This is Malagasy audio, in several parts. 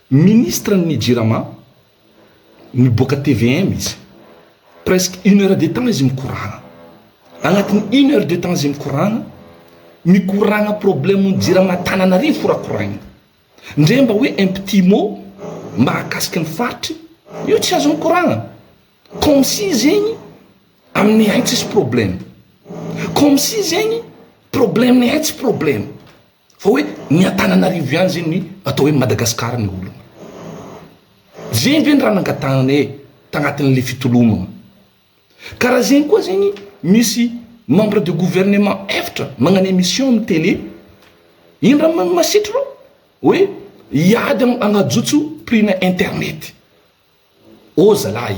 Ministre ny jirama, niboaka tvm izy. Presque une heure de temps izy mikoragna. Agnatin'ny une heure de temps izy mikoragna, mikoragna problème ny jirama Tananarivo horakoraigny. Ndre mba hoe un petit mot mahakasika ny faritry, io tsy azo mikoragna. Comme si zegny aminay tsisy problème. Comme si zegny problème-nay tsy problème. Fa hoe ny Antananarivo ihany zay ny atao hoe Madagascar ny olona. Zegny ve ny raha nangatahana e tagnatin'le fitolomagna. Karaha zegny koa zegny misy membre de gouvernement eftra magnano emission amin'ny tele, ino raha ma- masitry reo? Hoe hiady am- hagnajotso prix-na internet. Ô zalahy.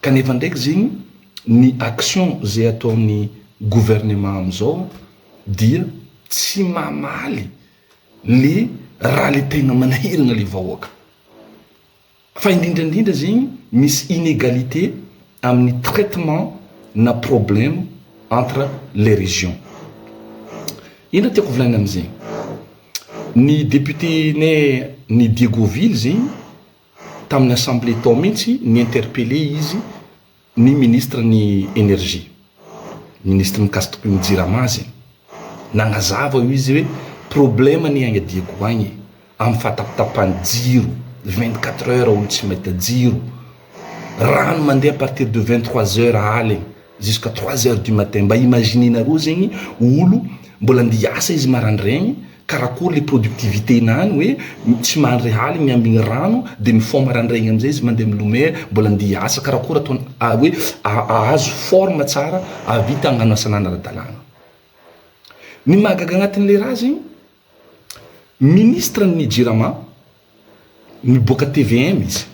Kanefa ndraiky zegny ny action zay ataon'ny gouvernement amizao dia tsy mamaly le raha le tegna manahiragna le vahoaka. Fa indrindra indrindra zegny misy inégalité amin'ny traitement na problème entre les régions. Ino raha tiako volagnina amizegny? Ny député-nay ny Diegoville zegny, Tamin'ny assemblée tao mihitsy, ni-interpeller izy ny ministre ny Energie, ministre Mikasitoko ny Jirama aza e! Nanazava io izy hoe problème anie agny Diego agny e! Amin'ny fahatapatapahan'ny jiro, vingt quatre heures olo tsy mahita jiro, rano mandeha à partir de vingt trois heures aligny, Jusqu'à trois heures du matin, mba imaginez-nareo zegny olo mbola andeha hiasa izy marandraigny, karakory le productivité nany hoe tsy mandry aligny ambigny rano de mifôha marandraigny amizay izy mandeha milomay mbola andeha hiasa, karakory ataony hoe ahazo forme tsara ahavita agnano asanany ara-dalàgna. Ny mahagaga agnatinle raha zegny Ministre ny jirama, miboaka tvm izy,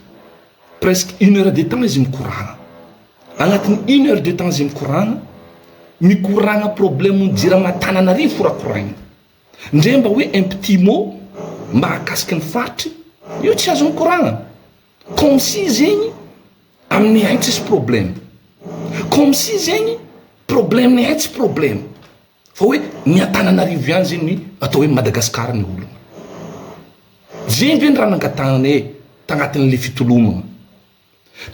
presque une heure de temps izy mikorana. Agnatin'ny une heure de temps izy mikorana, mikorana problème ny jirama Antananarivo horakoraina. Ndre mba hoe un petit mot mahakasika ny faritry, io tsy azo mikorana. Comme si zegny amin'ihay tsisy problème. Comme si zegny problème n'ihay tsy problème. Fa hoe ny Antananarivo ihany zay ny atao hoe Madagascar ny olona. Zegny ve ny raha nangatahanay tagnatin'le fitolomagna.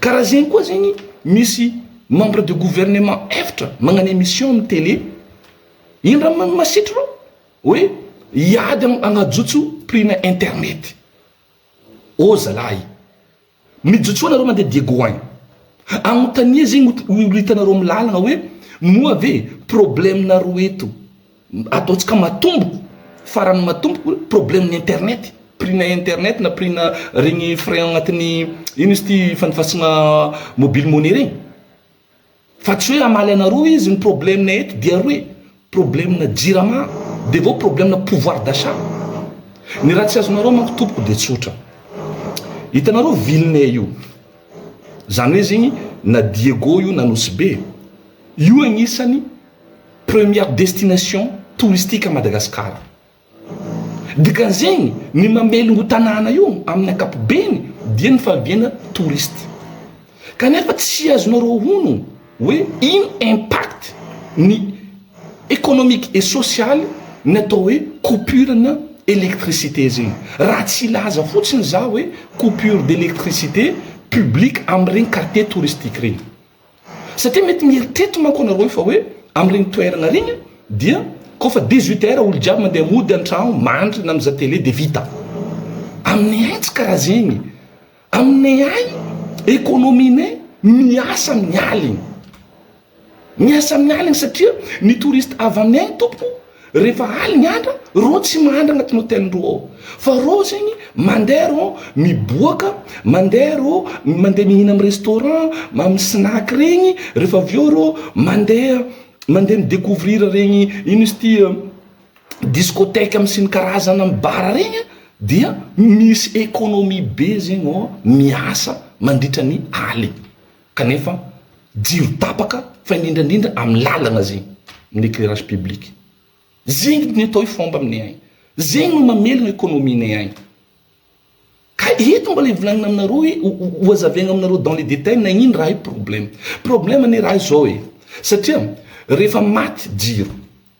Karaha zegny koa zegny misy membre de gouvernement eftra magnano emission amin'ny télé, ino raha ma- masitry reo? Hoe hiady am- hagnajotso prix-na internet. Ô zalahy. Mijotsoa nareo mandeha Diego an! Anontania zegny olo hitanareo am lalagna hoe moa ve problème nareo eto ataontsika matomboko farany matomboko problème ny internet prix na internet na prix na regny frais agnatin'ny ino izy ty fandifasigna mobile money regny. Fa tsy hoe hamaly anareo izy, ny problème eto dia roe, problème jirama dia avy eo problème pouvoir d'achat. Ny raha tsy azonareo manko tompoko dia tsotra. Hitanareo villenay io, izany hoe zegny na Diego io na Nosy Be, io agnisan'ny première destination touristique à Madagascar. Dikan'izegny, ny mamelogno tanàna io amin'ny ankapobeny dia ny fahaviana touriste. Kanefa tsy azonareo honogno hoe ino impact ny economique et social ny atao hoe coupure na électricité zegny. Raha tsy hilaza fotsiny za hoe coupure d'électricité publique amin'iregny quartier touristique regny. Satria mety mieritreritra manko anareo hoe fa hoe amin'ireny toerana ireny a dia koa fa dix huit heures olo jiaby mandeha mody antragno mandry na mizaha tele dia vita. Aminay any tsy karaha zegny. Aminay any economie-nay miasa amin'ny aligny. Miasa amin'ny aligny satria ny touriste avy aminay any tompoko, Rehefa aly ny andra, reo tsy mandry agnatin'ny hôtel reo ao. Fa reo zegny mandeha reo miboaka, mandeha reo mandeha mihina amin'ny restaurant, amin'ny snack regny, rehefa avy eo reo mandeha mandeha mi-decouvrir regny, ino izy ty, discothèque amin'ny siny karazana, amin'ny bar regny an, dia misy économie be zegny ô miasa mandritra ny aly. kanefa jiro tapaka fa indrindra indrindra amin'ny lalana zegny, amin'ny éclairage public, zegny ny atao hoe fomba aminay agny, zegny no mamelogna économie-nay agny, ka eto mbola hivolagnina aminareo hoe ho hazavaigna aminareo dans les détails nagnino raha io problème, problème anie raha io zao e, satria rehefa maty jiro,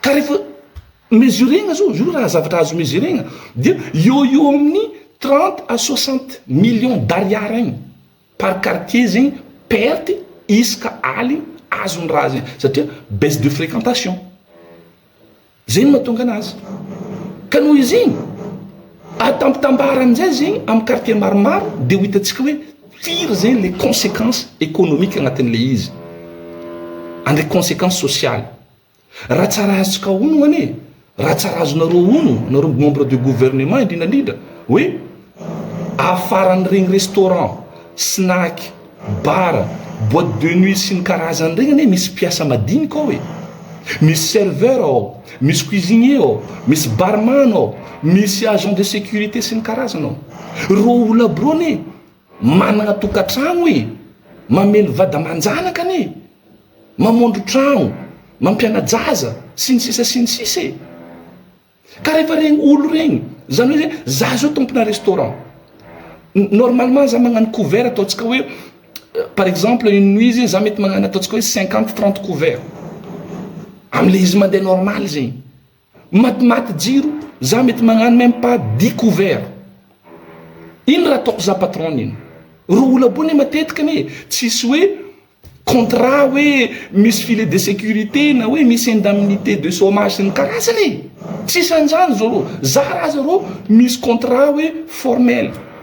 Ka rehefa mesuregna zao, io raha zavatra azo mesuregna, dia eo eo amin'ny trente à soixante millions d'ariary agny par quartier zegny perte isaka aligny azon'ny raha zegny, satria baisse de fréquentation, zay no mahatonga anazy. Ka noho izy igny, ampitambarany zay zegny amin'ny quartier maromaro dia ho hitantsika hoe, Firy zegny le consequence economique agnatin'le izy? Andre consequence sociale? Raha tsy raha azontsika honogno anie, raha tsy raha azonareo honogno, nareo membre de gouvernement indrindra indrindra, hoe afaran'iregny restaurant, snack, bar, boite de nuit sy ny karazany regny anie misy mpiasa madinika ao e! Misy serveur ao. Misy cuisinier ao, misy barman ao, misy agent de sécurité sy ny karazany ao. Ireo olona birony e, manana tokantrano e, mamely vady aman-janaka anie, mamondro trano, mampiana-jaza sy ny sisa sy ny sisa e. Ka rehefa regny olo regny, zany hoe zay, za zao tompona restaurant, normalement za magnano couvert ataontsika hoe Par exemple une nuit zegny za mety magnano ataontsika hoe cinquante trente couvert amle izy mandeha normal zegny, matimaty jiro za mety magnano meme pas dix couvert, ino raha ataoko za patron iny? Roa ola bo ne matetika anie e, tsisy hoe contrat hoe misy filet de sécurité na hoe misy indemnité de chômage sy ny karazany e, tsisy an'izany zao rô, za raha aza rô misy contrat hoe formel.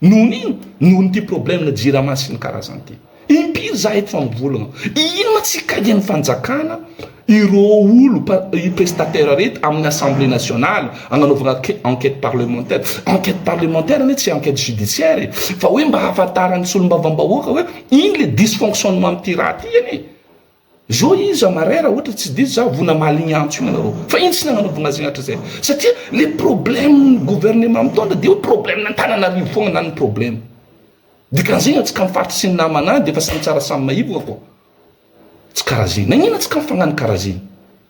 Nohon ino? Nohon ity problème na jirama sy ny karazany ity. Impiry za eto fa mivolagna. Ino ma tsy hikaigny ny fanjakana ireo olo prestataire reto aminy assemblée nationale agnanaovagna enquête parlementaire. Enquête parlementaire anie tsy enquête judiciaire e. Fa hoe mba hahafantaran'ny solombavambahoaka hoe ino le dysfonctionnement amity raha ty anie. Zao iza marin ra ohatra tsy diso za vo namaly igny antso igny anareo fa ino tsy nagnanaovy anazy igny hatrizay satria le problème ny gouvernement mitondra de hoe problème antananarivo fogna na ny problème dikanzegny atsika am faritry sy ny namana any defa samy tsara samy maivogna koa tsy kara zegny nagnino atsika mifagnano kara zegny.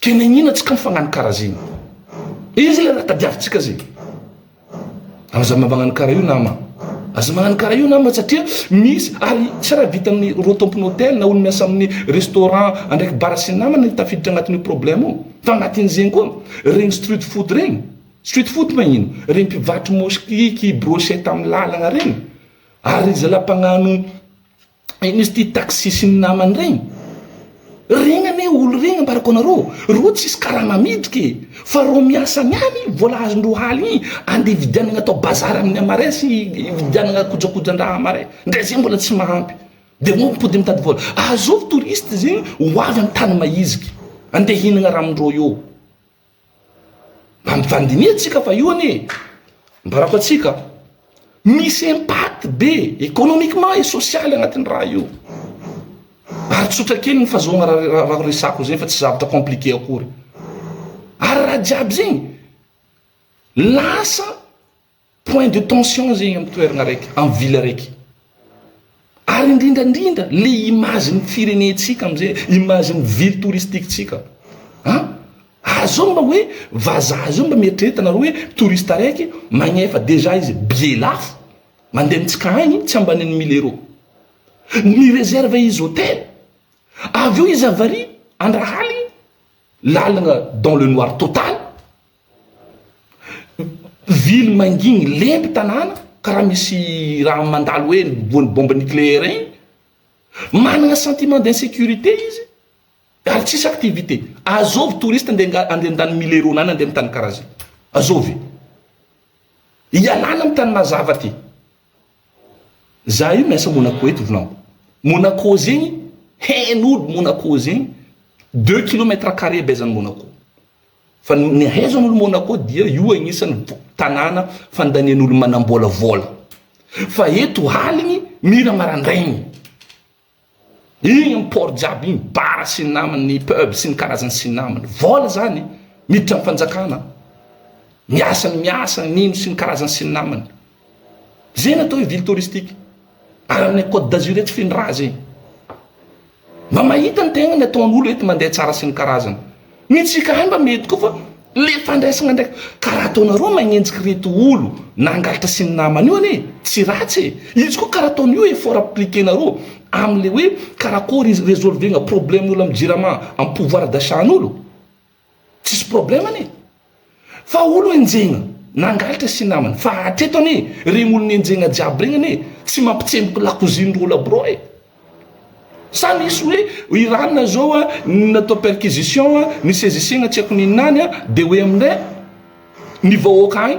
Tena iniana tsika ny fagnano kara zegny. Io zegny raha tadiavintsika zegny. Aza magnano kara io nama. Aza magnano kara io nama satria misy ary tsy raha vitan'ny rô tompon'ny hôtel na olo miasa amin'ny restaurant andraiky bar sy namana ny tafiditra agnatin'io problème io. Fa agnatin'izegny koa regny street food regny, street food ma ino? Regny mpivarotry moskiky, brochette amin'ny lalagna regny ary zala mpagnano Inona izy ity taxi sy ny namany regny? Regny anie olo regny ambarako anareo, reo tsisy karama miditra e, fa reo miasa any any vola azondreo haligny igny andeha hividianagna atao bazary amin'ny marais sy hividianagna kojakojan-draha amin'ny marais, ndre zay mbola tsy mahampy de reo mipody mitady vola, azovy touriste zegny ho avy amin'ny tany mahiziky andeha hihinagna raha amindreo eo. Mampifandinihantsika fa io anie ambarako antsika misy impact be économiquement et social agnatin'ny raha io. Ary tsotra kely ny fahazoagna raha resako zegny fa tsy zavatra compliqué akory. Ary raha jiaby zegny lasa Point de tension zegny am toeragna raiky, am ville raiky. Ary indrindra indrindra le image ny firenentsika amzay, image ny ville touristique tsika. A! ary zao mba hoe vazaha zao mba mieritrereta nareo hoe touriste araiky magnefa dejà izy billet lafo mandeha mitsika agny tsy ambanin'ny mille euro. Ny reserve izy hotel. Avy eo izy avariy andrahaligny lalagna dans le noir total. Ville mangigny lento tanàna karaha misy raha mandalo hoe voan'ny bombe nucléaire igny, managna sentiment d'insécurité izy ary tsisy activité, azovy touriste ande ande an-tany mille rona any ande amin'ny tany karaha zay? Azovy e! Ialana amin'ny tany mazava ty. Za io miasa Monaco eto vinao, Monaco zegny hain'olo Monaco zegny deux kilomètre carré abaizan'i Monaco, Fa ny haizan'olo Monaco dia io agnisan'ny tanàna fandanian'olo manambola vola. Fa eto aligny mira marandraigny. Igny am port jiaby igny, bar sy ny namany, ny pub sy ny karazany sy ny namany. Vola zany miditra am fanjakana. Miasa ny miasa, nino sy ny karazany sy ny namany. Zay no atao hoe ville touristique. Ary amin'ny Côte d'Azur etsy feno raha zegny. Mba mahita ny tegna ny ataon'olo eto mandeha tsara sy ny karazany. Ny antsika any mba mety koa fa le fandraisagna ndraiky. Ka raha ataonareo magnenjiky reto olo nangalatra sy ny namany io anie tsy ratsy e. Izy koa karaha ataony io effort appliquer-nareo am'le hoe karakôry izy resolvegna problem'olo am jirama, am pouvoir d'achat-n'olo. Tsisy problème anie fa olo enjehina nangalatra sy namany fa hatreto anie regny olo nenjehina jiaby regny anie tsy mampitsemboky lakoziny ry ola bro e! Sa misy hoe Iran zao a natao perquisition a nisezisegna tsy haiko ninona any a de hoe amindray ny vahoaka agny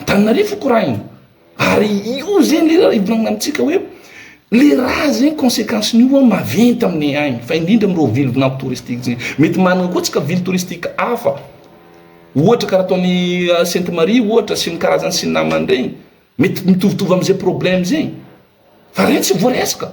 Antananarivo korahina ary io zegny le raha ivolagnana amintsika hoe le raha zegny consequence nio an maventy aminay agny fa indrindra amin'ireo ville vinanto touristique zegny mety manana koa tsika ville touristique hafa ohatra karaha ataon'i Sainte Marie ohatra sy ny karazany sy ny namany regny mety mitovitovy am'zay problème zegny fa regny tsy voaresaka.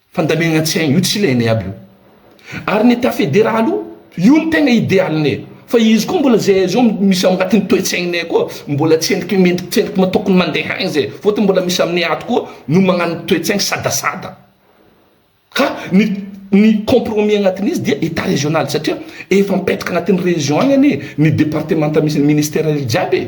Fandamehagna tsy haigny io tsy ilainay aby io. Ary ny etat federal io, io no tegna idealinay. Fa izy koa mbola zay zao misy ao agnatin'ny toe-tsaignay koa mbola tsendriky mendriky tsendriky ma tokony mande hagny zay. Fôtony mbola misy aminay ato koa no magnano toe-tsaigny sadasada. Ka ny ny compromis agnatin'izy dia etat regional satria efa mipetaka agnatin'ny region agny anie ny departemanta misy ny ministera jiaby e.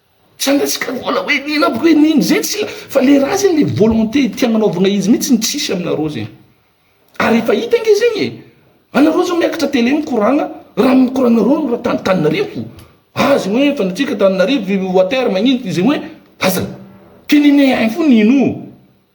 Tsy hangatsiaka vola hoe nin ampoko hoe nin zay tsy la fa le raha zegny le volonté tia agnanaovagna izy mintsy no tsisy aminareo zegny ary efa hita ange zegny e anareo zao miakatra tele mikoragna raha mikoragnareo no raha tany Tananarivo ah zegny hoe fandatsika Tananarivo water magnino zegny hoe aza kininihigny fo nino.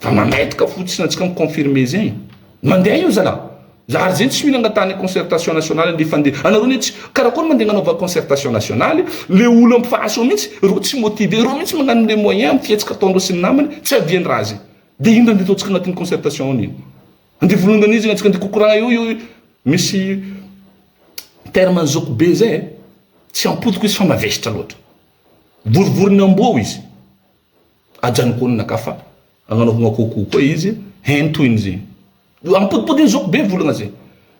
Fa mandaitoka fotsiny antsika mi confirmer zegny. Mandeha io zalah. Zary zegny tsy mila angatahana concertation nationale ndefa andeha. Anareo anie tsy karakôry mandeha agnanaovana concertation nationale, le olo am face ao mintsy rô tsy motiver, rô mintsy magnano le moyen am fihetsika ataondreo sy ny namany tsy avian raha zegny. De ino raha ndeha ataontsika agnatin'ny concertation ao nino. Andeha volongany io zegny antsika andeha kokoragna eo io misy terme zôko be zay eh. Tsy am potiko izy fa mavesatra loatra. Vorivorin'ny amboa ao izy. Ajanoko naka fa agnanaovagna kôkô koa izy hein toy ny zegny. Io ampotipotiny zao ko be volagna zay.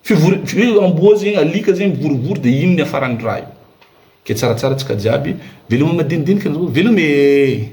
Fivory fi- hoe amboa zegny alika zegny mivorivory de ino ny afaran'ny raha io. Ke tsaratsara tsika jiaby veloma madinidinika anareo veloma ee.